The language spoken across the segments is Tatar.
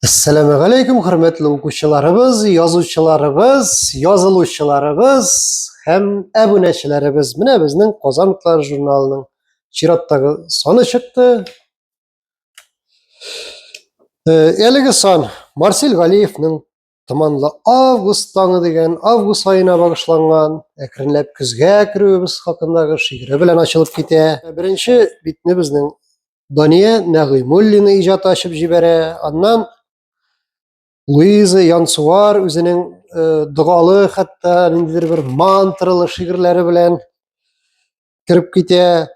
Әссәламу алейкум, хөрмәтле укучыларыбыз, язучыларыбыз, язылучыларыбыз һәм әбүнәчеләребез. Менә безнең Казан утлары журналының чираттагы саны чыкты. Э, әлеге сан Марсель Галиевның Томанлы август таңы дигән август айына багышланган әкренләп көзгә керүебез хакындагы шигыре белән ачылып китә. Беренче битне безнең Дания Нәгыймуллина иҗат ачып җибәрә. Аннан Луиза Янсуар үзенең э, догалы хәтта ниндидер бер мантралы шигырьләре белән кереп китә.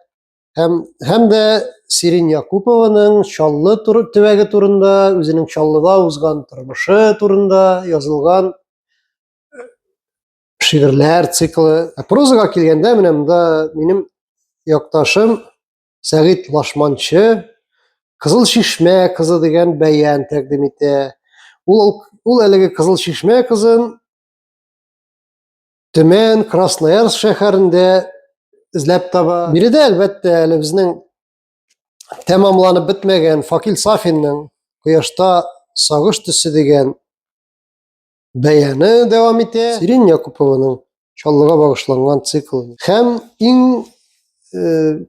Һәм һәм дә Сирин Якупованың Чаллы тур, төбәге турында, үзенең Чаллыда узган тормышы турында язылган э, шигырьләр циклы. Прозага килгәндә менә монда минем якташым Сәгыйть Лашманчы Кызыл Чишмә кызы дигән бәян тәкъдим итә. Ул ул әлеге Кызыл Чишмә кызын Төмән, Красноярск шәһәрендә эзләп таба. Биредә әлбәттә әле безнең тәмамланып бетмәгән Факил Сафинның Кояшта сагыш төсе дигән Бәяне дәвам итә Сирин Якупованың Чаллыга багышланган цикл. Һәм иң э,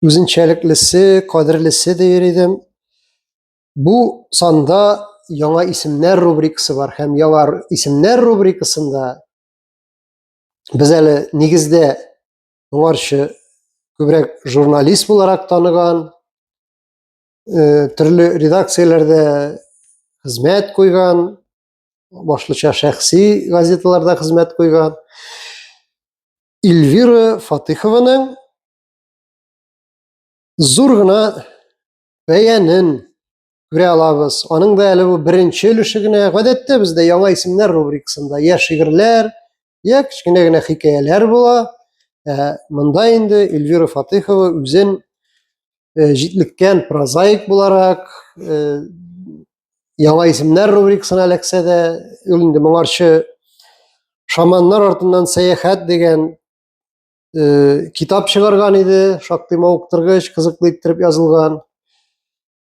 үзенчәлеклесе, кадерлесе дияр идем. Бу санда яңа исемнәр рубрикасы бар һәм яңа исемнәр рубрикасында без әле нигездә моңарчы күбрәк журналист буларак таныган э, төрле редакцияләрдә хезмәт куйган, башлыча шәхси газеталарда хезмәт куйган. Эльвира Фатыхованың зур гына бәянен күрә алабыз. Аның да әле бу беренче өлеше генә. Гадәттә бездә яңа исемнәр рубрикасында я шигырьләр, Йә, кечкенә генә хикәяләр була. Ә, монда инде Эльвира Фатыхова үзен ә, җитлеккән прозаик буларак, ә, яңа исемнәр рубрикасына эләксә дә, ул инде моңарчы шаманнар артыннан сәяхәт дигән ә, китап чыгарган иде, шактый мавыктыргыч, кызыклы иттереп язылган.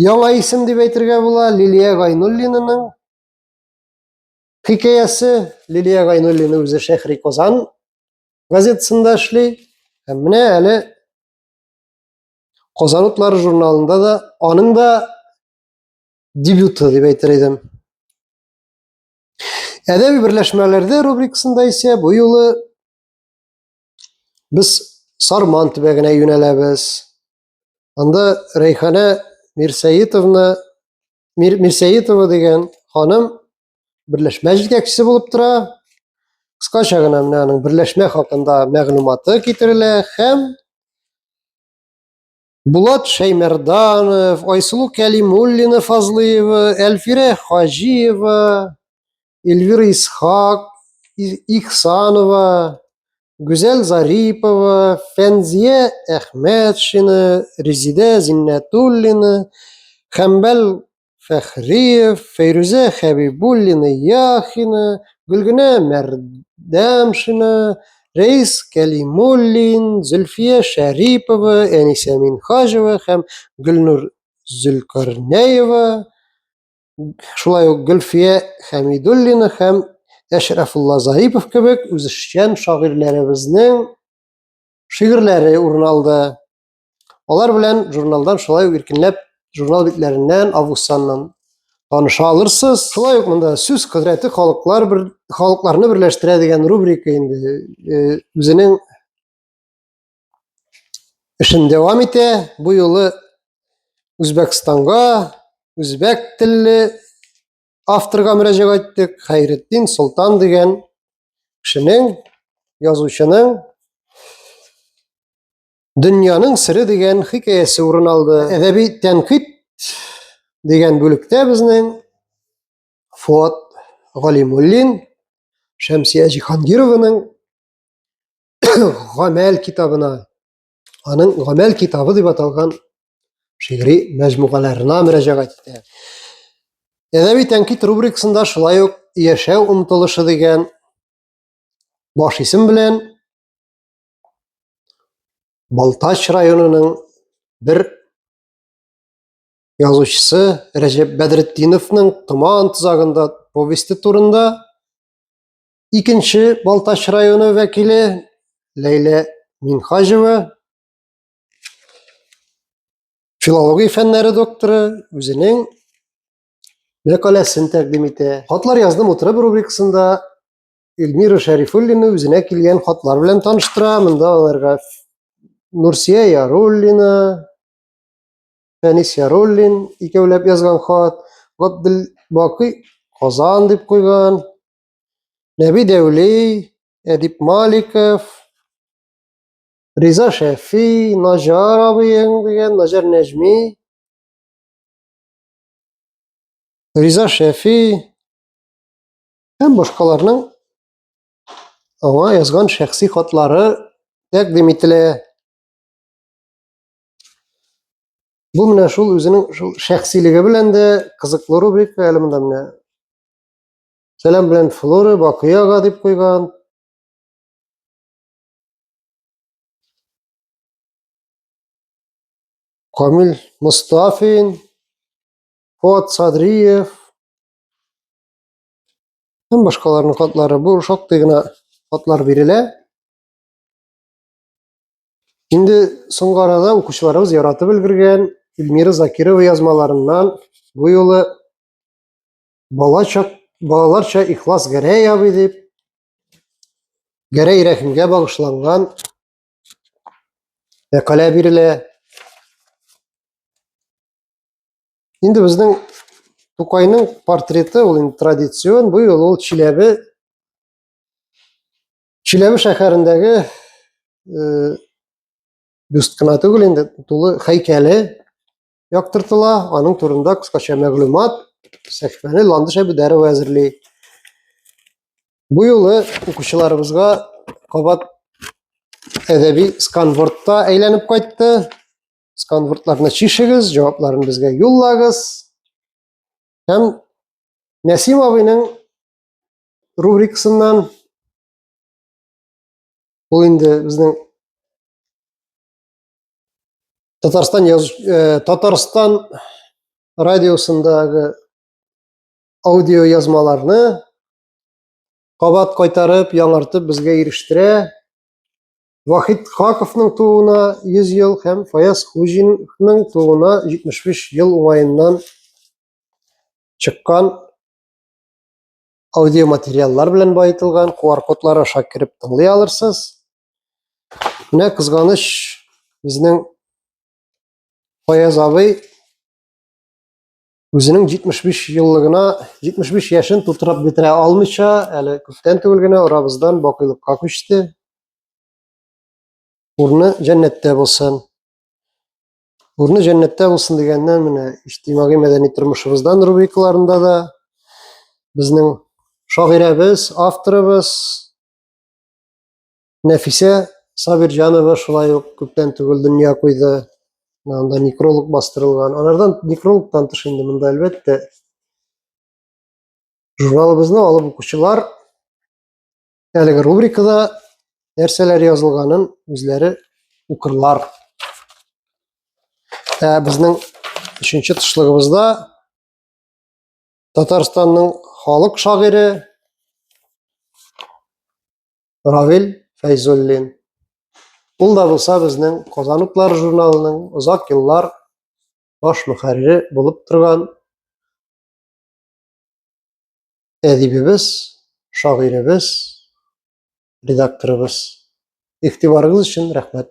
Яңа исем дип әйтергә була Лилия Гайнуллинаның хикәясе. Лилия Гайнуллина үзе Шәһри Казан газетасында эшли. Һәм менә әле Казан утлары журналында да аның да дебюты дип әйтер идем. Әдәби берләшмәләрдә рубрикасында исә бу юлы без Сарман төбәгенә юнәләбез. Анда Рәйханә Мирсәетовна Мир, Мирсәетова дигән ханым берләшмә җитәкчесе булып тора. Кыскача гына менә аның берләшмә хакында мәгълүматы китерелә һәм Булат Шәймәрданов, Айсылу Кәлимуллина Фазлыева, Әлфирә Хаҗиева, Эльвира Исхак, Ихсанова, Гүзәл Зарипова, Фәнзия Әхмәтшина, Резидә Зиннәтуллина, Хәмбәл Фәхриев, Фәйрүзә Хәбибуллина Яхина, Гөлгенә Мәрдәмшина, Рәис Кәлимуллин, Зөлфия Шәрипова, Әнисә Минхаҗева һәм Гөлнур Зөлкарнәева шулай ук Гөлфия Хәмидуллина һәм Әшрафулла Зарипов кебек үзешчән шагыйрьләребезнең шигырьләре урын алды. Алар белән журналдан шулай ук иркенләп журнал битләреннән, августаннан таныша алырсыз. Шулай ук монда сүз кодрәте халыклар бер халыкларны берләштерә дигән рубрика инде э, үзенең эшен дәвам итә. Бу юлы Үзбәкстанга үзбәк телле авторга мөрәҗәгать иттек. Хәйретдин Солтан дигән кешенең, язучының Дөньяның сире дигән хикәясе урын алды. Әдәби тәнкыйть дигән бүлектә безнең Фуат Галимуллин, Шәмсия Җиһангированың гамәл китабына, аның гамәл китабы дип аталган шигъри мәҗмугаларына мөрәҗәгать итә. Әдәби тәнкит рубрикасында шулай ук яшәү омтылышы дигән баш исем белән Балтач районының бер язучысы Рәҗәп Бәдретдиновның Томан тозагында повесте турында Икенче Балтач районы вәкиле Ләйлә Минхаҗева филология фәннәре докторы үзенең мәкаләсен тәкъдим итә. Хатлар яздым утырып рубрикасында Эльмира Шәрифуллина үзенә килгән хатлар белән таныштыра. Монда аларга Нурсия Яруллина, Фәнис Яруллин икәүләп язган хат, Габделбакый Казан дип куйган. Нәби Дәүли, Әдип Маликов, Риза Шәфи, Наҗар абыең дигән, Наҗар Нәҗми, Риза Шәфи һәм башкаларның аңа язган шәхси хатлары тәкъдим ителә. Бу менә шул үзенең шул шәхсилеге белән дә кызыклы рубрика әле монда менә Сәлам белән Флора Бакыяга дип куйган. Камил Мустафин, Фуат Садриев һәм башкаларның хатлары. Бу шактый гына хатлар бирелә. Инде соңгы арада укучыларыбыз яратып өлгергән Эльмира Закирова язмаларыннан бу юлы Балача, балаларча ихлас Гәрәй абый дип, Гәрәй рәхимгә багышланган мәкалә бирелә. Инде безнең Тукайның портреты ул инде традицион, бу юлы ул Чиләбе Чиләбе шәһәрендәге э, бюст кына түгел инде, тулы һәйкәле яктыртыла, аның турында кыскача мәгълүмат сәхифәне Ландыш Әбүдәрова әзерли. Бу юлы укучыларыбызга кабат әдәби сканвордта әйләнеп кайтты. Сканвордларны чишегез, җавапларын безгә юллагыз. Һәм Нәсим абыйның рубрикасыннан ул инде безнең Татарстан, яз... Э, Татарстан радиосындагы аудио язмаларны кабат кайтарып, яңартып безгә ирештерә. Вахид Хаковның тууына 100 ел һәм Фаяз Хуҗинның тууына 75 ел уңаеннан чыккан аудиоматериаллар белән баетылган QR-кодлар аша кереп тыңлый алырсыз. Менә кызганыч, безнең Фаяз абый үзенең 75 еллыгына 75 яшен тутырып бетерә алмыйча, әле күптән түгел генә арабыздан бакыйлыкка күчте. Урны җәннәттә булсын. Урны җәннәттә булсын дигәннән менә иҗтимагый мәдәни тормышыбыздан рубрикаларында да безнең шагыйрәбез, авторыбыз Нәфисә Сабирҗанова шулай ук күптән түгел дөнья куйды. Анда некролог бастырылган. Алардан некрологтан тыш инде монда әлбәттә журналыбызны алып укучылар әлеге рубрикада нәрсәләр язылганын үзләре укырлар. Ә безнең өченче тышлыгыбызда Татарстанның халык шагыйре Равил Фәйзуллин. Ул да булса безнең Казан утлары журналының озак еллар баш мөхәррире булып торган әдибебез, шагыйребез, редакторыбыз. Игътибарыгыз өчен рәхмәт.